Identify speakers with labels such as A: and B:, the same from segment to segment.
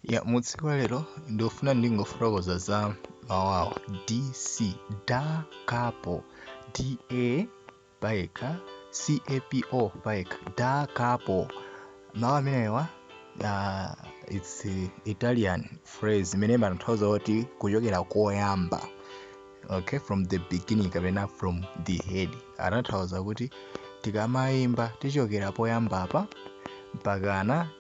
A: ya mutsiku wa lero ndikufuna ndingofotokoza za mawu awa dc da kapo da payekha capo payekha da capo mawu amenewa uh, its italian phrase imene imatanthauza kuti kuchokera koyamba okay from the beginning kapena from the head amatanthauza kuti tikamayimba tichokera poyambapa mpakana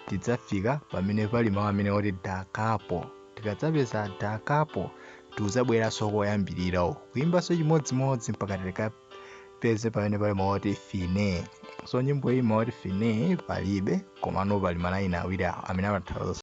A: tidzafika pamene pali mau amene oti da capo. Tikadzapeza da capo tidzabweranso koyambirira uku. Kuimbanso chimodzimodzi mpaka tikapeze pamene pali mau oti fine. So nyimbo iyi mau oti fine palibe komano pali malaini awiri awa amene amatanthauza